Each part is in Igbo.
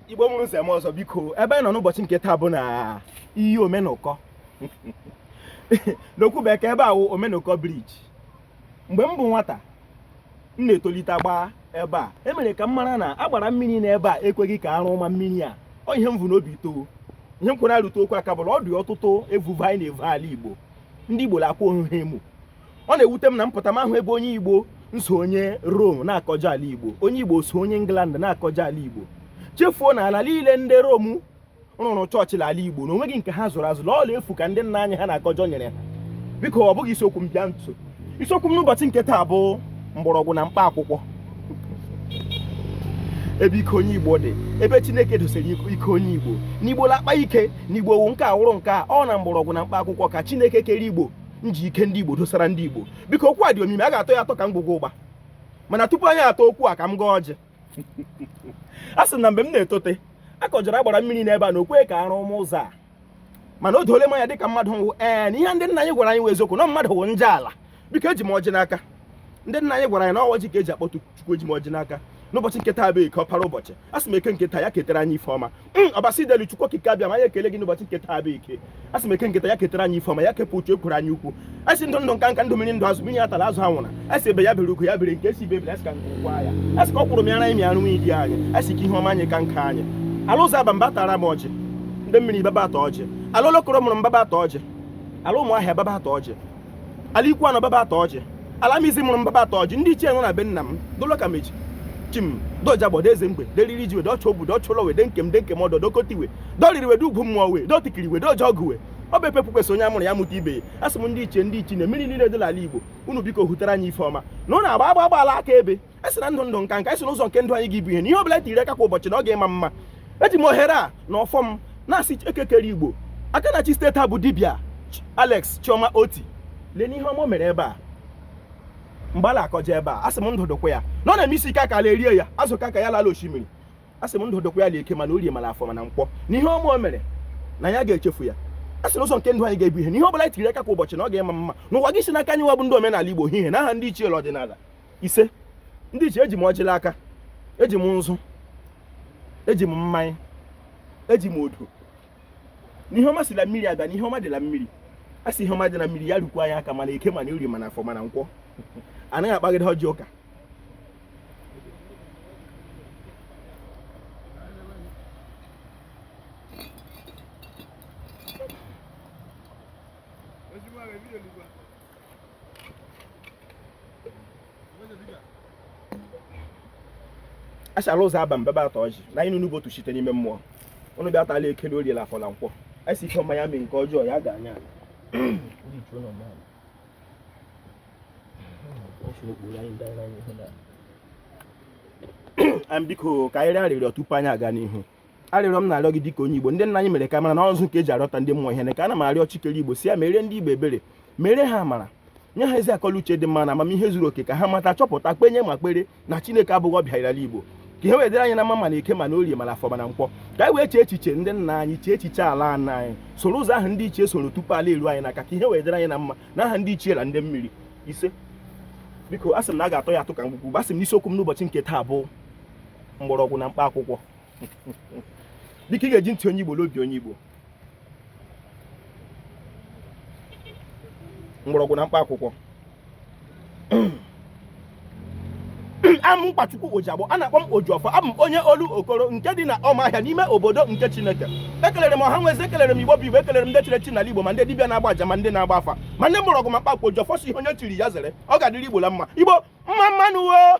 igbo mụrụ nze mụọ ọzọ biko ebe anyị nọ n'ụbọchị nke taa bụ na iyi omenụkọ n'okwu bekee ebe a wụ omenụkọ briji mgbe m bụ nwata m na-etolite gbaa ebe a emere ka m mara na agbara mmiri n'ebe a ekweghị ka arụ ma mmiri a ọ ihe m vu n'obi too ihe m kwere arụta okwu aka bụ la ọ dị ọtụtụ evuvo anyị na-evu ala igbo ndị igbo na-akwa onwe ha emu ọ na-ewute m na m pụta m ahụ ebe onye igbo nso onye Rome na-akọjọ ala igbo onye igbo so onye England na-akọjọ ala igbo chefuo na ala niile ndị Rome rụrụ chọọchị na ala igbo na onweghị nke ha zụrụ azụ na ọ la efu ka ndị nna anyị ha na-akọjọ nyere ha biko ọ bụghị isiokwu m bịa nso isiokwu m n'ụbọchị nke taa bụ mgbọrọgwụ na mkpa akwụkwọ ebe ike onye igbo dị ebe chineke dosere ike onye igbo n'igbo la-akpa ike n'igbo wụ nke a wụrụ nke a ọ na mgbọrọgwụ na mkpa akwụkwọ ka chineke kere igbo nji ike ndị Igbo dosara ndị Igbo biko okwu a dị omimi a ga-atọ ya atọ ka ngwugwu ụgba mana tupu anyị atọ okwu a ka m gọọ ọjị a sị na mgbe m na-etote a kọjara agbara mmiri n'ebe a na o kwe ka arụ ma ụzọ a mana o doole m anya dịka mmadụ wụ ee na ihe ndị nna anyị gwara anyị wụ eziokwu na mmadụ wụ njọ ala biko eji m ọjị n'aka ndị nna anyị gwara anyị na ọ wụ ọjị ka eji akpọtu chukwu eji m ọjị n'aka n'ụbọchị nke taa bụ eke ọpara ụbọchị a sị m eke nke taa ya ketara anyị ife ọma hmm, ọbasi dị elu chukwu okike abiama anyị ekele gị n'ụbọchị nke taa bụ eke a sị m eke nke taa ya ketara anyị ife ọma ya kepụ uche ekwuru anyị ukwu a sị ndụ ndụ nka nka ndụ mmiri ndụ azụ mmiri atala azụ anwụna a sị egbe ya bere ugo ya bere nke sị ibe ebere asị ka nku kwaa ya a sị ka ọ kwụrụ m ya na imi arụ nwunye di anyị a sị ka ihe ọma anyị ka nka anyị ala ọzụ abam bịa tara m ọjị ndị mmiri bịa bịa taa ọjị ala olokoro mụrụ m bịa bịa taa ọjị ala ụmụahịa bịa bịa taa ọjị ala ikwuano bịa bịa taa ọjị ala amizi mụrụ m bịa bịa taa ọjị ndị ichie nọ na be nna m dolo ka mechi chim doja gbọdo eze mgbe deriri ji wede ọchụ obu dọchụ ụlọ we de nkem de nkem ọdọ dokotiwe doriri wede ugwu mmụọ we dotikiri wede ọjọ ọgụ we ọ bụ epepụ kwesị onye amụrụ ya mụta ibe ya asị m ndị ichie ndị ichie na mmiri niile dị n'ala igbo unu biko hụtara anyị ife ọma na ụnụ agba agba agbaala aka ebe a sị na ndụ ndụ nka nka a sị n'ụzọ nke ndụ anyị ga-abụ ihe na ihe ọbụla tiri aka kwa ụbọchị na ọ ga-ịma mma eji m ohere a na ọfọ m na-asị eke kere igbo aka na-achị steeti a bụ dibia alex chioma otti lee nụ ihe ọma o mere ebe a mgbe a na-akọje ebe a asị m ndụ dụkwa ya na ọ na-eme isi ike aka ala erie ya azụ ka ka ya lala osimiri asị m ndụ dụkwa ya na eke mana orie mana afọ mana nkwọ na ihe ọma o mere na ya ga-echefu ya a sị n'ụzọ nke ndụ anyị ga-abụ ihe na ihe ọ bụla anyị tiri aka kwa ụbọchị na ọ ga-ịma mma na ọ ga-esi n'aka anyị nwa bụ ndị omenala Igbo ihe na aha ndị ichie ọdịnala ise ndị ichie eji m ọjị la aka eji m nzu eji m mmanya eji m odo n'ihe ọma si la mmiri abịa n'ihe ọma dị la mmiri a sị ihe ọma dị na mmiri ya rukwa anyị aka mana eke mana orie mana afọ mana nkwọ anaghị akpagide ọjị ụka ashala ụzọ aba mbebe atọ ọjị na anyị n'ugbo otu site n'ime mmụọ ụnụ bịa tala eke la orie la afọ na nkwọ a sị ihe ọma ya mee nke ọjọọ ya gaa anya biko ka anyị rịọ arịrịọ tupu anyị aga n'ihu arịrịọ m na-arịọ gị dịka onye Igbo ndị nna anyị mere ka mara na ụzọ nke eji arịọta ndị mmụọ ihe na ka ana m arịọ chi kere Igbo sị ya mere ndị Igbo ebere mere ha amara nye ha ezi akọ la uche dị mma na amamihe zuru oke ka ha mata chọpụta kwenye ma kwere na Chineke abụghị ọbịa n'ala Igbo ka ihe wee dịrị anyị na mma ma na eke ma na orie ma na afọ ma na nkwọ ka anyị wee chee echiche ndị nna anyị chee echiche ala nna anyị soro ụzọ ahụ ndị ichie soro tupu ala eru anyị n'aka ka ihe wee dịrị anyị na mma na aha ndị ichie na ndị mmiri isee biko asị m na a ga-atọ ya atụ ka mgbukwu bụ asị m na isiokwu m n'ụbọchị nke taa bụ mgbọrọgwụ na mkpa akwụkwọ dịka ị ga-eji ntị onye igbo na obi onye igbo mgbọrọgwụ na mkpa akwụkwọ am mkpachukwu ojiagbọ a na-akpọ m ojiọfọ abụ m onye olokoro nke dị na ọmahịa n'ime obodo nke chineke ekelere m ọha na eze ekelere m igbo bụ igbo ekelere m ndị chiri echi n'ala igbo ma ndị dibịa na-agba aja ma ndị na-agba afa ma ndị mgbọrọgwụ ma mkpa akwụkwọ ojiọfọ sị ihe onye chiri ya zere ọ ga-adịrị igbo la mma igbo mma mma nụ o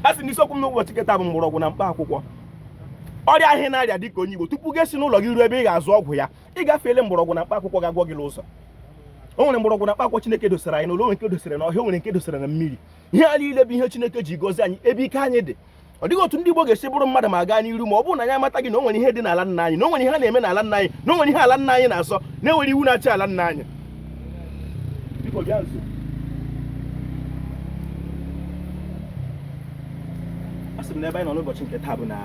a sị m na isiokwu m n'ụbọchị nke taa bụ mgbọrọgwụ na mkpa akwụkwọ ọrịa ahụ na-arịa dị ka onye Igbo tupu gị si n'ụlọ gị ruo ebe ị ga-azụ ọgwụ ya ị gafeele mgbọrọgwụ na mkpa akwụkwọ ga-agwọ gị n'ụzọ o nwere mgbọrọgwụ na mkpa akwụkwọ Chineke dosara anyị n'ụlọ nwere nke dosara na ọhịa nwere nke dosara na mmiri ihe a niile bụ ihe Chineke ji gozi anyị ebe ike anyị dị ọ dịghị otu ndị Igbo ga-esi bụrụ mmadụ ma gaa n'iru ma ọ bụrụ na anyị amataghị na o nwere ihe dị n'ala nna anyị na o nwere ihe ha na-eme n'ala nna anyị na o nwere ihe ala nna anyị na-asọ na e nwere iwu na-achị ala nna anyị a sị m na ebe anyị nọ n'ụbọchị nke taa bụ na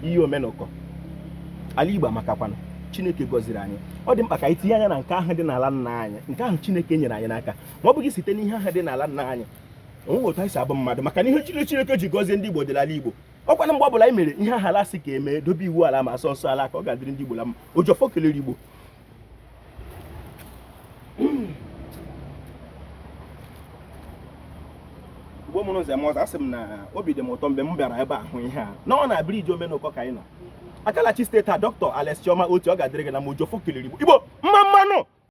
iyi omenụkọ ala Igbo amakakwanụ chineke gọziri anyị ọ dị mkpa ka anyị tinye anya na nke ahụ dị n'ala nna anyị nke ahụ chineke nyere anyị n'aka ma ọ bụghị site n'ihe ahụ dị n'ala nna anyị onweghị otu anyị si abụ mmadụ maka na ihe chi Chineke ji gọzie ndị Igbo dị la ala Igbo ọ kwa na mgbe ọbụla anyị mere ihe ahụ ala sị ka emee dobe iwu ala ma sọọ nsọ ala ka ọ ga-adịrị ndị Igbo la mma Ojiọfọ kelere Igbo Igbo mụrụ nze mụọ ọzọ asị m na obi dị m ụtọ mgbe m bịara ebe a hụ ihe a na ọ na briji omenụkọ ka anyị nọ aka la-achị steeti a dọkịta Alex Chioma Otti ọ ga-adịrị gị na mma Ojiọfọ kelere Igbo Igbo mma mma nụ